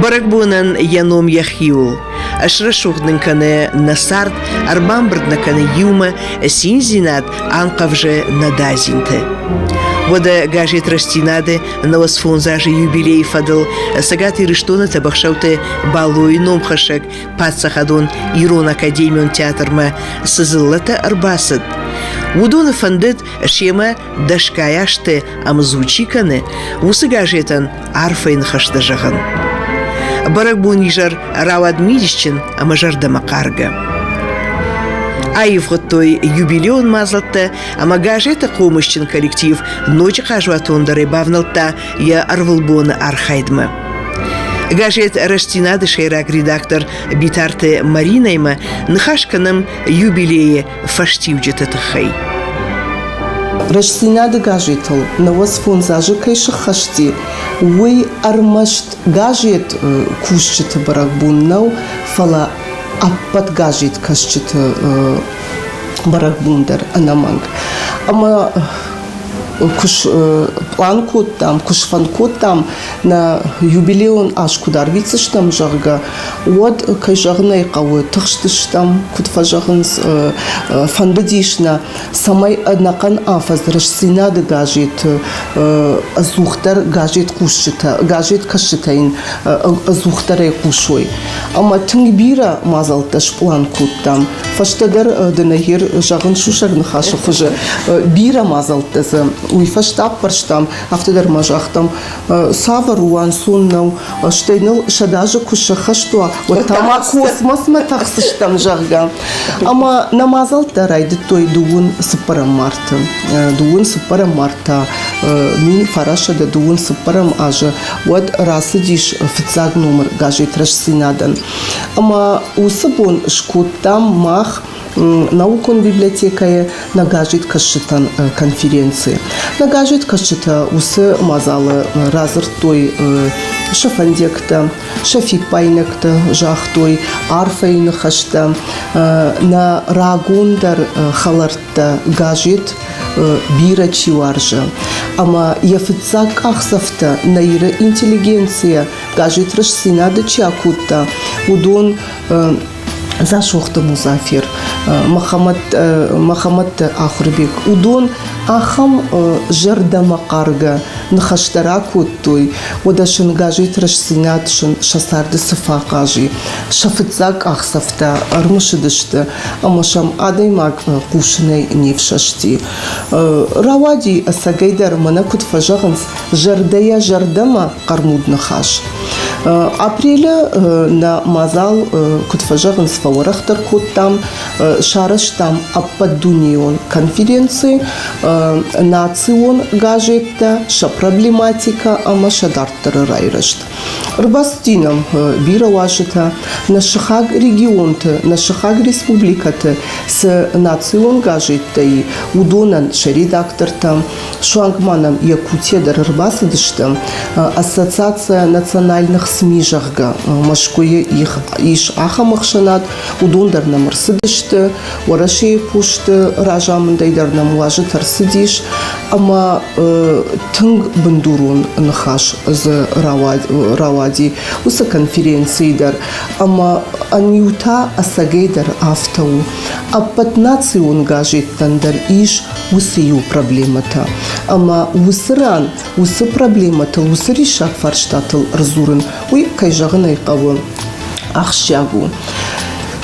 Бӕрӕгбонӕн йӕ ном йӕхи у. Ӕсрӕсугъд нын кӕны нӕ цард, ӕрбамбырд нӕ кӕны иумӕ, циндзинад анхъӕвзы нӕ дадзинты. Уӕдӕ газет «Рӕстдзинад-ы» науӕдз фондз азы юбилейы фӕдыл Цӕгат Ирыстоны Тӕбӕхсӕуты Балойы номхӕссӕг паддзахадон ирон академион театрмӕ цы дзыллӕтӕ ӕрбацыд, уыдоны фӕндыд семӕ дӕсгай азты ӕмдзу чи кӕны, уыцы газетӕн арфӕйы ныхӕстӕ зӕгъын. Бӕрӕгбон изӕр рауад мидисджын ӕмӕ зӕрдӕмӕхъаргӕ. Аивгъуыдтой юбилеон мадзӕлттӕ ӕмӕ газеты хъомысджын коллектив ноджы хъазуатондӕрӕй бавнӕлдта йӕ ӕрвылбоны архайдмӕ. Газет «Рӕстдзинад»-ы сӕйраг редактор Битарты Маринӕимӕ ныхас кӕнӕм юбилейы фӕстиуджыты тыххӕй. Рӕстдзинады газетыл нӕуӕдзфондз азы кӕй сыххӕсти, уый ӕрмӕст газет кусджыты бӕрӕгбон нӕу, фӕлӕ ӕппӕт газеткӕсджыты бӕрӕгбон дӕр ӕнӕмӕнг. Ӕмӕ куы план кодтам, куы сфӕнд кодтам, нӕ юбилеон аз куыд арвитдзыстӕм, зӕгъгӕ, уӕд, кӕй зӕгъын ӕй хъӕуы, тыхстыстӕм, куыд фӕзӕгъынц, фӕндыдис нӕ, цӕмӕй ӕнӕхъӕн афӕдз Рӕстдзинад-ы газеты ӕдзухдӕр газет-кусджытӕ, газеткӕсджытӕ йын ӕдзухдӕрӕй хъусой. Ӕмӕ тынг бирӕ мадзӕлттӕ сплан кодтам, Фӕстӕдӕр Денагир зӕгъын сусӕг ныхасы хуызы, бирӕ мадзӕлттӕ дзы уый фӕстӕ аппӕрстам, афтӕдӕр ма загътам, цавӕр у ӕнцон нау, стӕй ныл сӕдӕ азы куы сӕххӕст уа, уӕд та ма космосмӕ тӕхдзыстӕм, зӕгъгӕ. Ӕмӕ нӕ мадзӕлттӕ райдыдтой дыууын цыппӕрӕм марты. Дыууын цыппӕрӕм март та мин фарасӕдӕ дыууын цыппӕрӕм азы уӕд рацыдис фыццаг номыр газет Рӕстдзинад-ӕн. Ӕмӕ уыцы бон скодтам мах наукон библиотекӕйы нагазджыткӕсджытӕн конференци. Нагазджыткӕсджытӕ уыцы мадзалы радзырдтой сӕ фӕндиӕгтӕ, сӕ фиппайнӕгтӕ, загътой арфӕйы ныхӕстӕ нӕ рагондӕр хӕлӕрттӕ газет бирӕ чи уарзы. Ӕмӕ йӕ фыццаг къахдзӕфтӕ нӕ Иры интеллигенцийӕ Даже рӕстдзинады чи акодта, уыдон Дзасохты Музафер, Махамад Махамадты Ахуырбек, уыдон ахӕм зӕрдӕмӕхъаргӕ ныхӕстӕ ракодтой, уӕдӕ сын газеты рӕстдзинад сын сӕ царды цы фӕхъаз и. Сӕ фыццаг къахдзӕфтӕ ӕрымысыдысты ӕмӕ сӕм адӕймаг хъусынӕй не фсӕсти. Рауади ӕцӕгӕйдӕр, мӕнӕ куыд фӕзӕгъынц, зӕрдӕйӕ зӕрдӕмӕ хъӕрмуд ныхас. Апрелы нӕ мадзал, куыд фӕзӕгъынц, фӕуӕрӕхдӕр кодтам, сарӕзтам ӕппӕтдунейон конференци национ газеттӕ «Сӕ проблематика» ӕмӕ «Сӕ дарддӕры райрӕзт». Ӕрбастинӕм бирӕ уазджытӕ нӕ сыхаг регионты, нӕ сыхаг республикӕты цы национ газеттӕй, уыдонӕн, сӕ редактортӕм, Суанг ма нӕм йӕ кутӕ дӕр ӕрбацыдысты, Ассоциацийӕ национальных СМИ, зӕгъгӕ, Мӕскуыйы ис ахӕм ӕхсӕнад, уыдон дӕр нӕм ӕрцыдысты, Уӕрӕсейы посты разамындӕй дӕр нӕм уазджыт ӕрцыдис, ӕмӕ тынг бындурон ныхас дзы рауади уыцы конференцийы дӕр, ӕмӕ ӕниу та ӕцӕгӕйдӕр афтӕ у. Ӕппӕт национ газеттӕн дӕр ис уыцы иу проблемӕтӕ ӕмӕ уыцы ран уыцы проблемӕтыл уыцы риссаг фарстатыл ӕрдзурын уый кӕй зӕгъын ӕй хъӕуы ахсджиаг у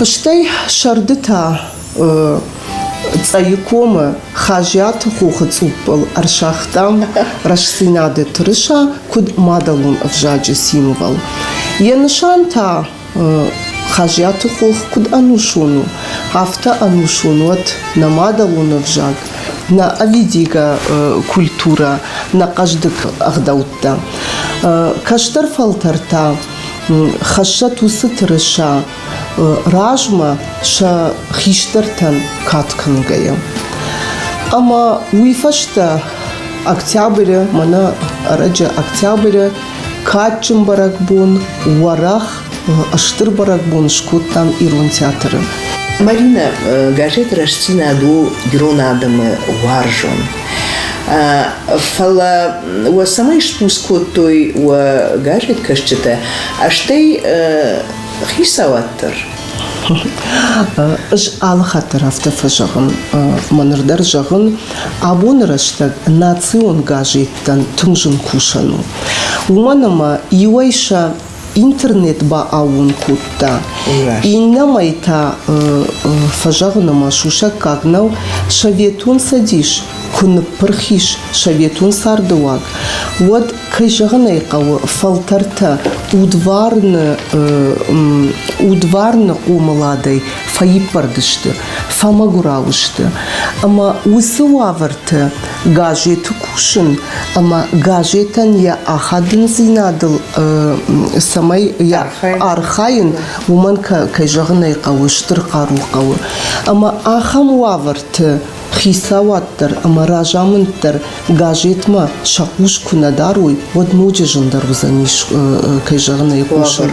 стӕй сӕрды та Цъӕйы комы Хазиаты хохы цъуппыл ӕрсагътам рӕстдзинады тырыса куыд мадӕлон ӕвзаджы символ. Йӕ нысан та Хазиаты хох куыд ӕнусон у, афтӕ ӕнусон уӕд нӕ мадӕлон ӕвзаг, нӕ ӕвидигӕ культурӕ, нӕ хъӕздыг ӕгъдӕуттӕ. Кӕстӕр фӕлтӕр та хӕссӕт уыцы тырыса размӕ сӕ хистӕртӕн кад кӕнгӕйӕ. Ӕмӕ уый фӕстӕ октябры, мӕнӕ ӕрӕджы октябры Кадджын бӕрӕгбон, уӕрӕх, стыр бӕрӕгбон скодтам ирон театры. Марина, газет «Рӕстдзинад» у ирон адӕмы уарзон. Фӕлӕ уӕ цӕмӕй спус кодтой уӕ газеткӕсджытӕ, стӕй хицауад дӕр? Ӕз алы хатт дӕр афтӕ фӕзӕгъын. Мӕ ныр дӕр зӕгъын, Абоны рӕстӕг национ газеттӕн тынг зын кусӕн у. Уымӕн ӕмӕ иуӕй сӕ интернет бааууон кодта, иннӕмӕй та фӕзӕгъын ӕмӕ сусӕггаг нӕу Советон Цӕдис куы ныппырх ис советон цардыуаг, уӕд, кӕй зӕгъын ӕй хъӕуы, фӕлтӕртӕ удварны удварны хъомыладӕй фӕиппӕрд сты. фӕмӕгуырау сты. Ӕмӕ уыцы уавӕрты газеты кусын ӕмӕ газетӕн йӕ ахадындзинадыл цӕмӕй йӕ архайын, уымӕн кӕй зӕгъын ӕй хъӕуы, стыр хъару хъӕуы. Ӕмӕ ахӕм уавӕрты хицауад дӕр ӕмӕ разамынд дӕр газетмӕ сӕ хъус куы нӕ дарой, уӕд ноджы зындӕр уыдзӕнис, кӕй зӕгъын ӕй хъусын,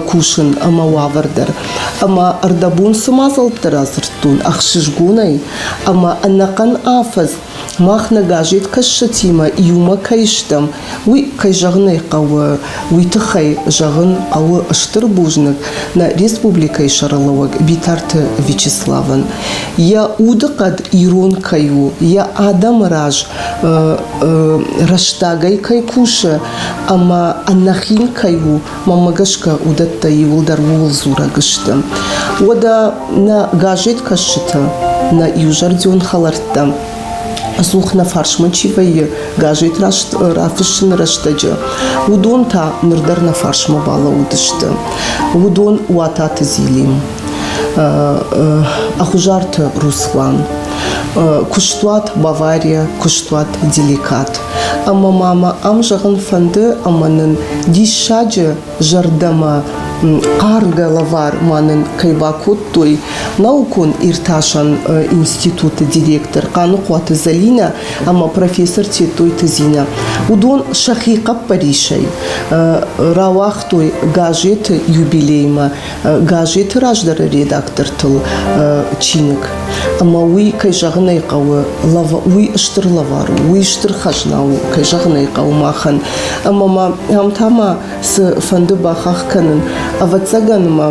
кусын ӕмӕ уавӕр дӕр. Ӕмӕ ӕрдӕбон цы мадзӕлттӕ радзырдтон ӕхсызгонӕй ӕмӕ ӕнӕхъӕн афӕдз мах нӕ газеткӕссӕтимӕ иумӕ кӕй стӕм, Уый, кӕй зӕгъын ӕй хъӕуы, уый тыххӕй зӕгъын хъӕуы стыр бузныг нӕ республикӕйы сӕргълӕууӕг Битарты Вячеславӕн. Йӕ удыхъӕд ирон кӕй у, йӕ адӕмы раз рӕстагӕй кӕй кусы ӕмӕ ӕнӕхин кӕй у, мӕмӕ гӕсгӕ уыдӕттӕ иуылдӕр ууыл дзурӕг сты. Уӕдӕ нӕ газеткӕсджытӕ, нӕ иузӕрдион хӕлӕрттӕ, Ӕдзух нӕ фарсмӕ чи вӕййы, газет раст рафыссыны рӕстӕджы, уыдон та ныр дӕр нӕ фарсмӕ балӕууыдысты. Уыдон Уататы Зилин, Ӕхъуызарты Руслан, куыстуат Бавария, куыстуат Деликат. Ӕмӕ ма мӕ ам зӕгъын фӕнды, ӕмӕ нын диссаджы зӕрдӕмӕ хъаргӕ лӕвар ма нын кӕй бакодтой наукон иртасӕн институты директор Хъаныхъуаты Залинӕ ӕмӕ профессор Тетойты Зинӕ. Уыдон сӕхи хъӕппӕрисӕй рауагътой газеты юбилеймӕ. газеты раздӕры редактортыл чиныг. Ӕмӕ уый, кӕй зӕгъын ӕй хъӕуы, уый стыр лӕвар у, уый стыр хӕзна у, кӕй зӕгъын ӕй хъӕуы махӕн. Ӕмӕ ма ам та ма цы фӕнды бахахх кӕнын, ӕвӕццӕгӕн ма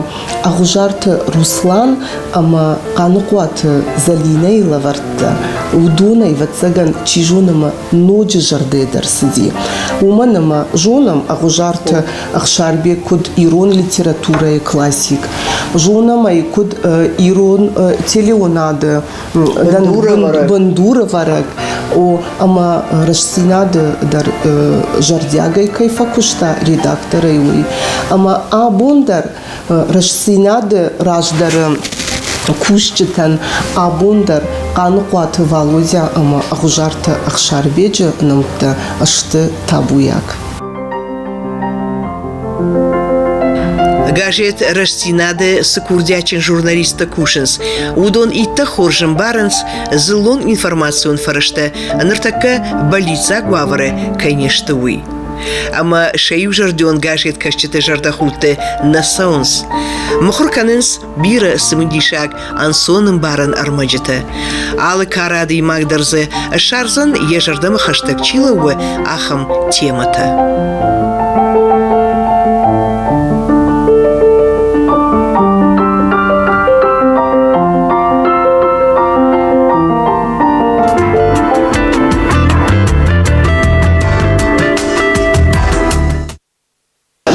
Ӕгъуызарты Руслан ӕмӕ Хъаныхъуаты Зӕлинӕйы лӕвӕрттӕ, уыдон, ӕвӕццӕгӕн, чи зоны ма ноджы зӕрдӕдӕр цыди. Уымӕн ӕмӕ зонӕм Ӕгъуызарты Ӕхсарбег куыд ирон литературӕйы классик, зонӕм ӕй куыд ирон телеонады бындурӕвӕрӕг, о, ӕмӕ рӕстдзинады дӕр зӕрдиагӕй кӕй фӕкуыста редакторӕй, уый. Ӕмӕ абон дӕр Рӕстдзинады раздӕры кусджытӕн абон дӕр Хъаныхъуаты Валодя ӕмӕ Ӕгъуызарты Ӕхсарбеджы нӕмттӕ сты табуйаг. Газет «Рӕстдзинад»-ы цы курдиатджын журналисттӕ кусынц, уыдон иттӕг хорз ӕмбарынц дзыллон информацион фӕрӕзтӕ ныртӕккӕ бӕллиццаг уавӕры кӕй не сты, уый. ӕмӕ сӕ иузӕрдион газеткӕсджыты зӕрдӕхудты нӕ цӕуынц. Мыхуыр кӕнынц бирӕ цымыдисаг, ӕнцонӕмбарӕн ӕрмӕджытӕ. Алы кары адӕймаг дӕр дзы ссардзӕн йӕ зӕрдӕмӕ хӕстӕг чи лӕууы, ахӕм темӕтӕ.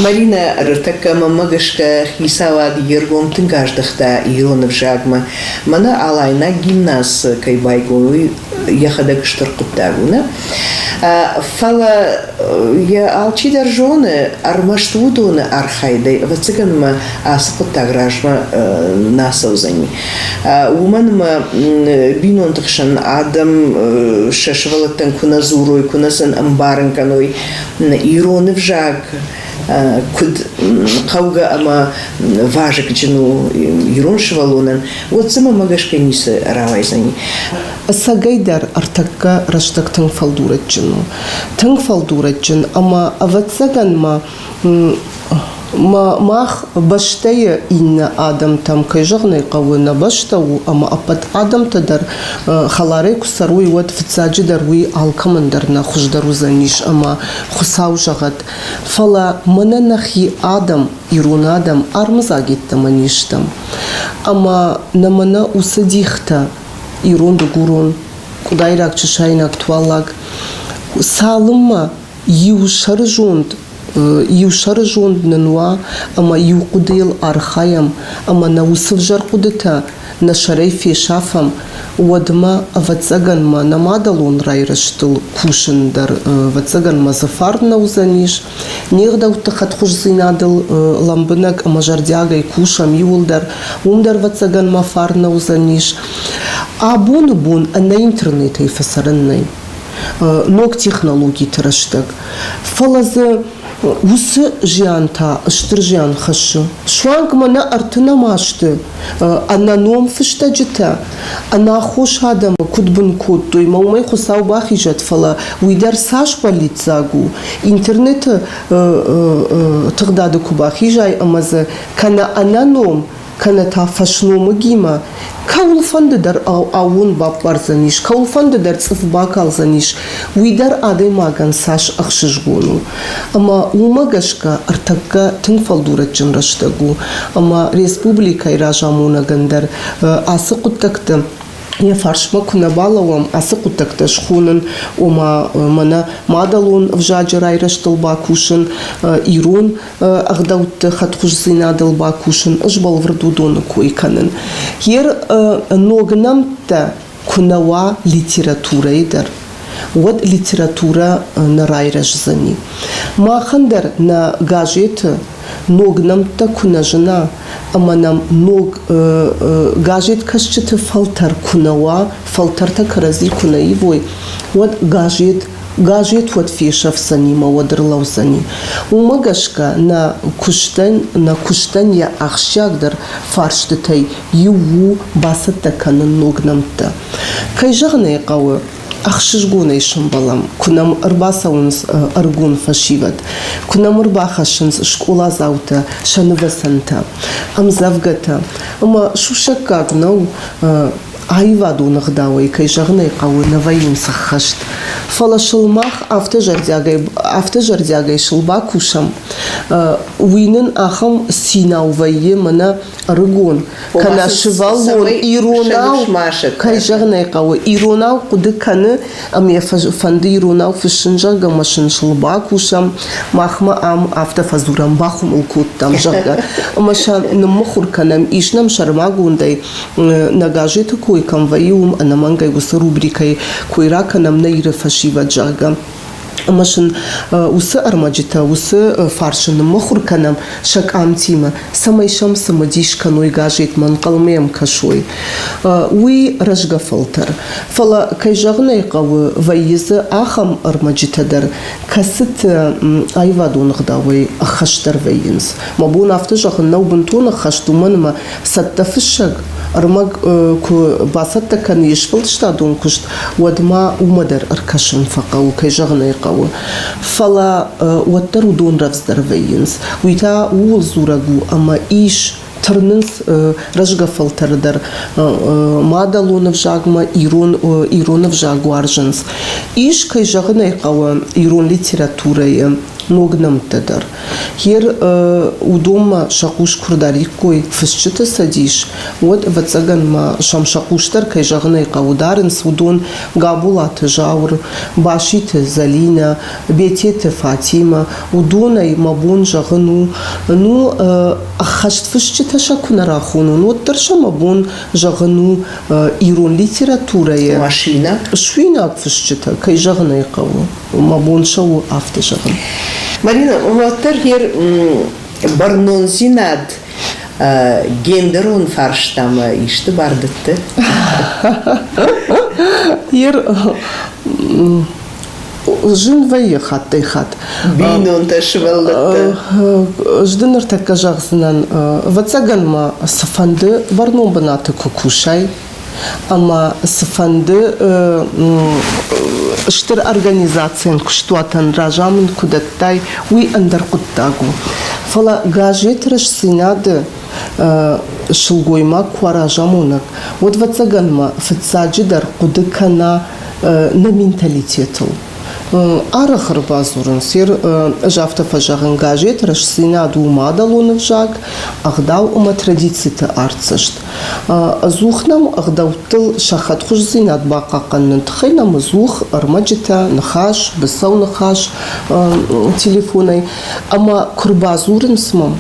Маринӕ ӕртӕккӕ мӕмӕ гӕсгӕ хицауад йе ргом тынг аздӕхта ирон ӕвзагмӕ. Мӕнӕ алайнаг гимназы кӕй байгом, уый йӕхӕдӕг стыр хъуыддаг у, нӕ? Фӕлӕ йӕ алчидӕр зоны ӕрмӕст уыдоны архайдӕй, ӕвӕццӕгӕн мӕ ацы хъуыддаг размӕ нӕ ацӕудзӕни. Уымӕн ӕмӕ бинонты хсӕн адӕм сӕ сывӕллӕттӕн куы нӕ дзурой, куы нӕ сын ӕмбарын кӕной ирон ӕвзаг, куыд хъӕугӕ ӕмӕ вазыгджын у ирон сывӕллонӕн, уӕд дзы мӕ гӕсгӕ ницы рауайдзӕни. Ӕцӕгӕйдӕр ӕртӕккӕ рӕстӕг тынг фӕлдурӕджджын у. Тынг фӕлдурӕджджын ӕмӕ, ӕвӕццӕгӕн ма, Мах бӕстӕйы иннӕ адӕмтӕм, кӕй зӕгъын ӕй хъӕуы, нӕ бӕстӕ у ӕмӕ ӕппӕт адӕмтӕ дӕр хӕларӕй куы цӕрой, уӕд фыццаджыдӕр уый алкӕмӕн дӕр нӕ хуыздӕр уыдзӕнис ӕмӕ Хуыцау зӕгъӕд. Фӕлӕ мӕнӕ нӕхи адӕм, ирон адӕм армыдзаг йеддӕмӕ не стӕм. Ӕмӕ нӕ мӕнӕ уыцы дихтӕ ирон-дыгурон, къуыдайраг-чысайнаг, туаллаг цалынмӕ Иу сӕрызонд нын уа ӕмӕ иу хъуыдыйыл архайӕм ӕмӕ нӕ уыцы взӕр хъуыдытӕ нӕ сӕрӕй фесафӕм, уӕдмӕ, ӕвӕццӕгӕн ма нӕ мадӕлон райрӕзтыл кусын дӕр, ӕвӕццӕгӕн ма дзы фарн нӕ уыдзӕнис. Не гъдӕутты хӕдхуыздзинадыл лӕмбынӕг ӕмӕ зӕрдиагӕй кусӕм иуылдӕр, уым дӕр ӕвӕццӕгӕн ма фарн нӕ уыдзӕнис. Абоны бон ӕнӕ интернетӕй фӕцӕрӕн нӕй. ног технологиты рӕстӕг. Фӕлӕ дзы уыцы зиан та стыр зиан хӕссы. Суанг ма нӕ арты нӕма сты ӕнӕном фыстӕджытӕ. Ӕнаххос адӕмы куыд бын кодтой, ма уымӕй Хуыцау бахизӕд, фӕлӕ уый дӕр цас бӕллиццаг у, интернеты тыгъдады куы бахизай ӕмӕ дзы кӕнӕ ӕнӕном кӕнӕ та фӕсномыгимӕ, кӕуылфӕнды дӕр аууон баппардзӕнис, кӕуылфӕнды дӕр цъыф бакалдзӕнис, уый дӕр адӕймагӕн цас ӕхсызгон у. Ӕмӕ уымӕ гӕсгӕ ӕртӕккӕ тынг фӕлдурӕджджын рӕстӕг у, ӕмӕ республикӕйы разамонӕгӕн дӕр ацы хъуыддӕгты йӕ фарсмӕ куы нӕ балӕууӕм, ацы хъуыддӕгтӕ схонын, ома мӕнӕ мадӕлон ӕвзаджы райрӕзтыл бакусын, ирон ӕгъдӕутты хӕдхуыздзинадыл бакусын, сбӕлвырд уыдоны кой кӕнын. Йе ног нӕмттӕ куы нӕ уа литературӕйы дӕр, уӕд литературӕ нӕ райрӕздзӕни. Махӕн дӕр нӕ газеты ног нӕмттӕ куы нӕ зына ӕмӕ нӕм ног газеткӕсджыты фӕлтӕр куы нӕ уа, фӕлтӕртӕ кӕрӕдзи куы нӕ ивой, уӕд газет газет уӕд фесӕфдзӕни ӕмӕ уӕд ӕрлӕудзӕни. Уымӕ гӕсгӕ нӕ куыстӕн, нӕ куыстӕн йӕ ахсджиагдӕр фарстытӕй иу у бацӕттӕ кӕнын ног нӕмттӕ. Кӕй зӕгъын ӕй хъӕуы, ӕхсызгонӕй сӕмбӕлӕм, куы нӕм ӕрбацӕуынц ӕрыгон фӕсивӕд, куы нӕм ӕрбахӕссынц скъоладзаутӕ сӕ нывӕцӕнтӕ, ӕмдзӕвгӕтӕ. Ӕмӕ сусӕггаг нӕу аивадон ӕгъдауӕй, кӕй зӕгъын ӕй хъӕуы, нӕ вӕййынц ӕххӕст. Фӕлӕ сыл мах афтӕ зӕрдиагӕй, афтӕ зӕрдиагӕй сыл бакусӕм, уый нын ахӕм цинау вӕййы, мӕнӕ ӕрыгон, кӕнӕ сывӕллон иронау, кӕй зӕгъын ӕй хъӕуы, иронау хъуыды кӕны, ӕмӕ йӕ фӕнды иронау фыссын, зӕгъгӕ, мӕ сын сыл бакусӕм, махмӕ ам афтӕ фӕдзурӕм, бахуымыл кодтам, зӕгъгӕ. Ӕмӕ сӕ ныммыхуыр кӕнӕм, ис нӕм сӕрмагондӕй Нӕ газеты кой кӕм вӕййы, уым ӕнӕмӕнгӕй уыцы рубрикӕйы кой ракӕнӕм нӕ Иры фӕсивӕд, зӕгъгӕ. Ӕмӕ сын уыцы ӕрмӕджытӕ, уыцы фарсы ныммыхуыр кӕнӕм сӕ къамтимӕ, цӕмӕй сӕм цымыдис кӕной газетмӕ, ӕнхъӕлмӕ йӕм кӕсой. Уый рӕзгӕ фӕлтӕр. Фӕлӕ, кӕй зӕгъын ӕй хъӕуы, вӕййы дзы ахӕм ӕрмӕджытӕ дӕр, кӕцыты аивадон ӕгъдауӕй ӕххӕстдӕр вӕййынц. Мӕ бон афтӕ зӕгъын нӕу бынтон ӕххӕст, уымӕн ӕмӕ цӕттӕфыссӕг ӕрмӕг куы бацӕттӕ кӕны йе сфӕлдыстадон куыст, уӕд ма уымӕ дӕр ӕркӕсын фӕхъӕуы, кӕй зӕгъын ӕй хъӕуы. Фӕлӕ уӕддӕр уыдон рӕвдздӕр вӕййынц. Уый та ууыл дзурӕг у, ӕмӕ ис тырнынц рӕзгӕ фӕлтӕры дӕр. Мадӕлон ӕвзагмӕ ирон ирон ӕвзаг уарзынц. Ис, кӕй зӕгъын ӕй хъӕуы, ирон литературӕйы ног нӕмттӕ дӕр. Гер уыдонмӕ сӕ хъус куы рдариккой фысджыты цӕдис, уӕд, ӕвӕццӕгӕн ма сӕм сӕ хъусдӕр, кӕй зӕгъын ӕй хъӕуы, дарынц уыдон Габолаты Зауыр, Баситы Зӕлинӕ, Бететы Фатимӕ. Уыдонӕй мӕ бон зӕгъын у, ну, ӕххӕстфысджытӕ сӕ куы нӕ рахонон, уӕддӕр сӕ мӕ бон зӕгъын у ирон литературӕйы машинӕ, суинаг фысджытӕ, кӕй зӕгъын ӕй хъӕуы. мӕ бон цӕуы афтӕ зӕгъын. Марина, уӕддӕр хер бӕрнондзинад гендерон фарстамӕ исты бардӕтты? Ер зын вӕййы хаттӕй хатт. Бинонтӕ сывӕллӕттӕ. Зды ныртӕккӕ зӕгъдзынӕн, ӕвӕццӕгӕн мӕ цыфӕнды бӕрнон бынаты куы кусай, ӕмӕ цыфӕнды стыр организацийӕн куыстуатӕн разамынд куы дӕттай, уый ӕндӕр хъуыддаг у. Фӕлӕ газеты рӕстдзинады сылгоймаг куы уа разамонӕг, уӕд вӕццӕгӕнмӕ фыццаджыдӕр хъуыды кӕна нӕ менталитетыл. Арӕх ӕрбадзурынц, ӕз афтӕ фӕзӕгъын, газеты рӕстдзинад у мадӕлон ӕвзаг, ӕгъдау ӕмӕ традициты артдзӕст. Ӕдзух нӕм ӕгъдӕуттыл сӕ хӕдхуыздзинад бахъахъхъӕныны тыххӕй нӕм ӕдзух ӕрмӕджытӕ, ныхас, быцӕу ныхас телефонӕй. Ӕмӕ куы рбадзурынц мӕм,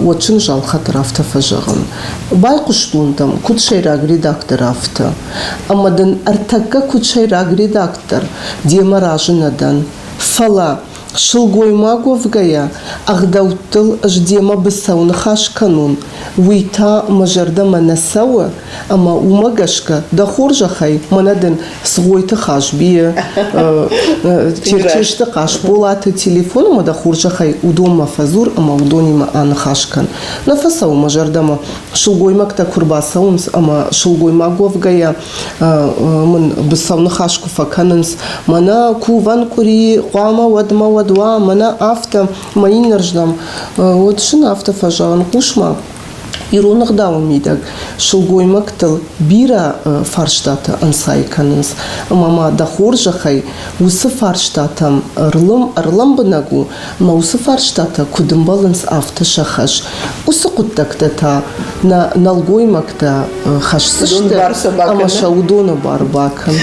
уӕд сын зал хатыр афтӕ фӕзӕгъын: Байхъуыстон дӕм, куыд сӕйраг редактор, афтӕ. Ӕмӕ дын ӕртӕккӕ куыд сӕйраг редактор, демӕ разы нӕ дӕн. Фӕлӕ Сылгоймаг уӕвгӕйӕ, ӕгъдӕуттыл ӕз демӕ быцӕу ныхас кӕнон, уый та мӕ зӕрдӕмӕ нӕ цӕуы, ӕмӕ уымӕ гӕсгӕ дӕ хорзӕхӕй мӕнӕ дын Цгъойты Хазбийы, Черчесты Хъасболаты телефоны мӕ дӕ хорзӕхӕй уыдонмӕ фӕдзур ӕмӕ уыдонимӕ аныхас кӕн. Нӕ фӕцӕуы мӕ зӕрдӕмӕ, сылгоймӕгтӕ куы рбацӕуынц ӕмӕ сылгоймаг уӕвгӕйӕ мын быцӕу ныхас куы фӕкӕнынц, мӕнӕ кувӕн къуыри хъуамӕ уӕдмӕ уӕд уа, мӕнӕ афтӕ, мӕ иннӕрдӕм уӕд сын афтӕ фӕзӕгъын, хъус-ма, ирон ӕгъдауы мидӕг сылгоймӕгтыл бирӕ фарстатӕ ӕнцай кӕнынц, ӕмӕ ма дӕ хорзӕхӕй уыцы фарстатӕм ӕрлӕмбынӕг у, Мӕ уыцы фарстатӕ куыд ӕмбӕлынц, афтӕ сӕ хӕс. Уыцы хъуыддӕгтӕ та нӕ нӕлгоймӕгтӕ хӕсдзысты ӕмӕ сӕ уыдоны бар бакӕн.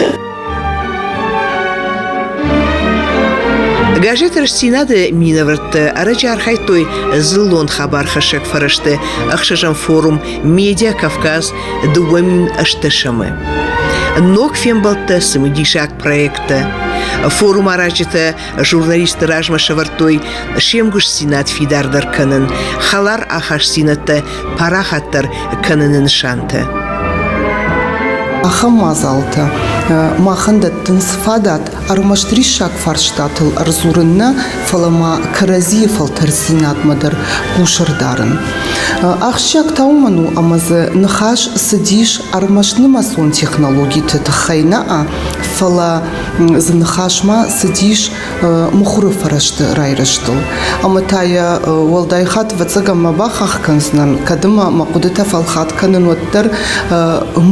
Газеты Рӕстдзинад-ы минӕвӕрттӕ ӕрӕджы архайдтой дзыллон хабархӕссӕг фӕрӕзты ӕхсӕзӕм форум «Медиа Кавказ» дыууӕ мин ӕстдӕсӕмы. Ног фембӕлдтӕ цымыдисаг проекттӕ. Форум аразджытӕ журналистты размӕ сӕвӕрдтой се мгуыстдзинад фидардӕр кӕнын, хӕлар ахастдзинӕдтӕ парахатдӕр кӕныны нысантӕ. Ахӕм мадзалтӕ махӕн дӕттынц фадат ӕрмӕст риссаг фарстатыл ӕрдзурын нӕ, фӕлӕ ма кӕрӕдзийы фӕлтӕрддзинадмӕ дӕр хъусӕрдарын. Ахсджиаг та уымӕн у, ӕмӕ дзы ныхас цыдис ӕрмӕст нымӕцон технологиты тыххӕй нӕ, фӕлӕ Зы ныхасмӕ цыдис мыхуыры фӕрӕзты райрӕзтыл. Ӕмӕ та йӕ уӕлдай хатт ӕвӕццӕгӕн мӕ бахахх кӕндзынӕн, кӕд ӕмӕ мӕ хъуыдытӕ фӕлхат кӕнын, уӕддӕр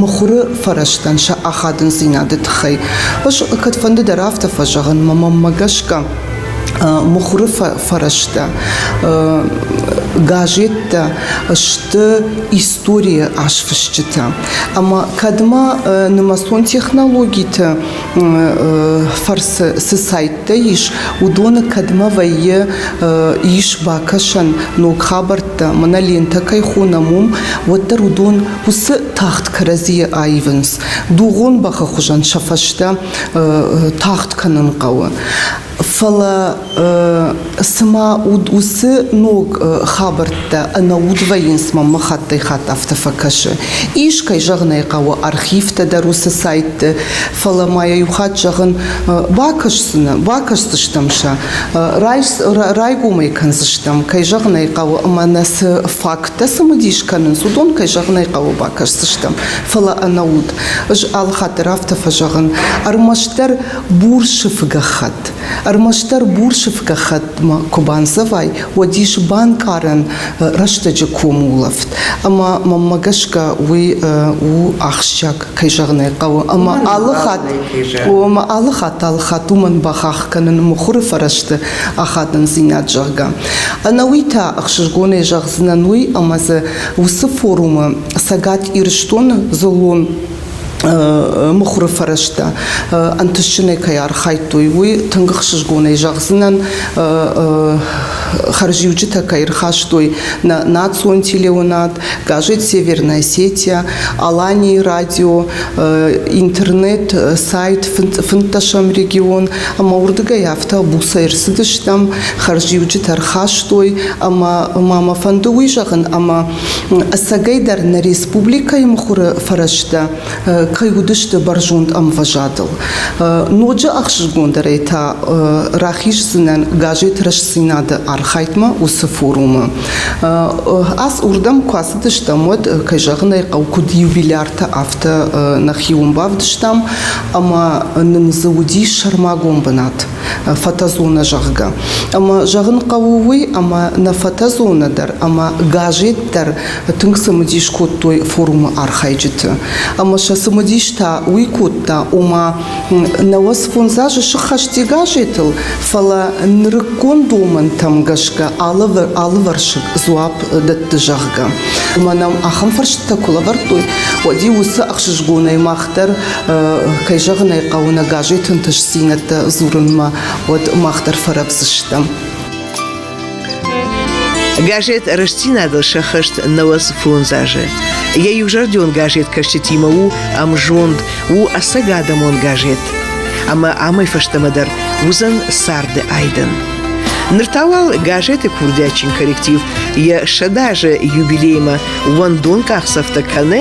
мыхуыры фӕрӕзтӕн сӕ ахадындзинады тыххӕй. Ус кӕдфӕнды дӕр афтӕ фӕзӕгъын, мӕ мӕнмӕ гӕсгӕ, мыхуыры фӕрӕзтӕ газеттӕ сты историйы азфысджытӕ. Ӕмӕ кӕдмӕ нымӕцон технологиты фӕрцы цы сайттӕ ис, уыдоны кӕдмӕ вӕййы ис бакӕсӕн ног хабӕрттӕ, мӕнӕ лентӕ кӕй хонӕм, уым, уӕддӕр уыдон уыцы тагъд кӕрӕдзийы аивынц. Дугъон бӕхы хуызӕн сӕ фӕстӕ тагъд кӕнын хъӕуы. Фӕлӕ цыма уыцы ног хабӕрттӕ ӕнӕуд вӕййынц мӕм хаттӕй хатт афтӕ фӕкӕсы. Ис, кӕй зӕгъын ӕй хъӕуы, архивтӕ дӕр уыцы сайтты, фӕлӕ ма йӕ иу хатт зӕгъын, бакӕсдзынӕ, бакӕсдзыстӕм сӕ, райгомӕй кӕндзыстӕм, кӕй зӕгъын ӕй хъӕуы, ӕмӕ нӕ цы факттӕ цымыдис кӕнынц, уыдон, кӕй зӕгъын ӕй хъӕуы, бакӕсдзыстӕм, фӕлӕ ӕнӕуд. Ӕз алыхатт дӕр афтӕ фӕзӕгъын, ӕрмӕстдӕр Бурсыфы гӕххӕтт. Ӕрмӕстдӕр бурсыф гӕххӕттмӕ куы бандзӕвай, уӕд ис банкъарӕн рӕстӕджы комулӕфт. Ӕмӕ мӕнмӕ гӕсгӕ уый у ахсджиаг, кӕй зӕгъын ӕй хъӕуы. Ӕмӕ алы хатт, ӕмӕ алы хатт, алы хатт уымӕн бахахх кӕнын мыхуыры фӕрӕзты ахадындзинад, зӕгъгӕ. Ӕнӕуый та ӕхсызгонӕй зӕгъдзынӕн уый, ӕмӕ дзы уыцы форумы Цӕгат Ирыстоны дзыллон мыхуыры фӕрӕзтӕ ӕнтысджынӕй кӕй архайдтой, уый тынг ӕхсызгонӕй зӕгъдзынӕн хӕрзиуджытӕ кӕй ӕрхастой нӕ национ телеуынад, газет Северная сеть, Аланийы радио, интернет, сайт фынддӕсӕм регион ӕмӕ уырдыгӕй афтӕ буцӕй ӕрцыдыстӕм, хӕрзиуджытӕ ӕрхастой ӕмӕ ма мӕ фӕнды уый зӕгъын ӕмӕ Ӕцӕгӕйдӕр нӕ республикӕйы мыхуыры фӕрӕзтӕ кӕй уыдысты бӕрзонд ӕмвӕзадыл. Ноджы ӕхсызгондӕрӕй та рахиздзынӕн газет Рӕстдзинад-ы архайдмӕ уыцы форумы. Ас уырдӕм куы ацыдыстӕм, уӕд, кӕй зӕгъын ӕй хъӕуы, куыд юбиляртӕ, афтӕ нӕхиуон бавдыстам, ӕмӕ нын дзы уыди сӕрмагонд бынат. фотозонӕ зӕгъгӕ. Ӕмӕ зӕгъын хъӕуы уый, ӕмӕ нӕ фотозонӕ дӕр ӕмӕ газет дӕр тынг цымыдис кодтой форумы архайджыты. Ӕмӕ сӕ цымыдис та уый кодта, ома науӕдз фондз азы сыххӕсти газетыл, фӕлӕ нырыккон домӕнтӕм гӕсгӕ алывӕрсыг дзуапп дӕтты, зӕгъгӕ. Ӕмӕ нӕм ахӕм фӕрстытӕ куы лӕвӕрдтой, уӕд-иу уыцы ӕхсызгонӕй мах дӕр Кӕй зӕгъын ӕй хъӕуы, нӕ газеты ӕнтыстдзинӕдтӕ дзурынмӕ, уӕд мах дӕр фӕрӕвдзыстӕм. Газет «Рӕстдзинад-ыл сӕххӕст нӕуӕдз фондз азы». Йӕ иузӕрдион газеткӕсджытимӕ у ӕмзонд, у ӕцӕгадӕмон газет. Ӕмӕ амӕй фӕстӕмӕ дӕр уыдзӕн царды айдӕн. Ныр та уал газеты курдиатджын коллектив йӕ сӕдӕ азы юбилеймӕ уӕндон къахдзӕфтӕ кӕны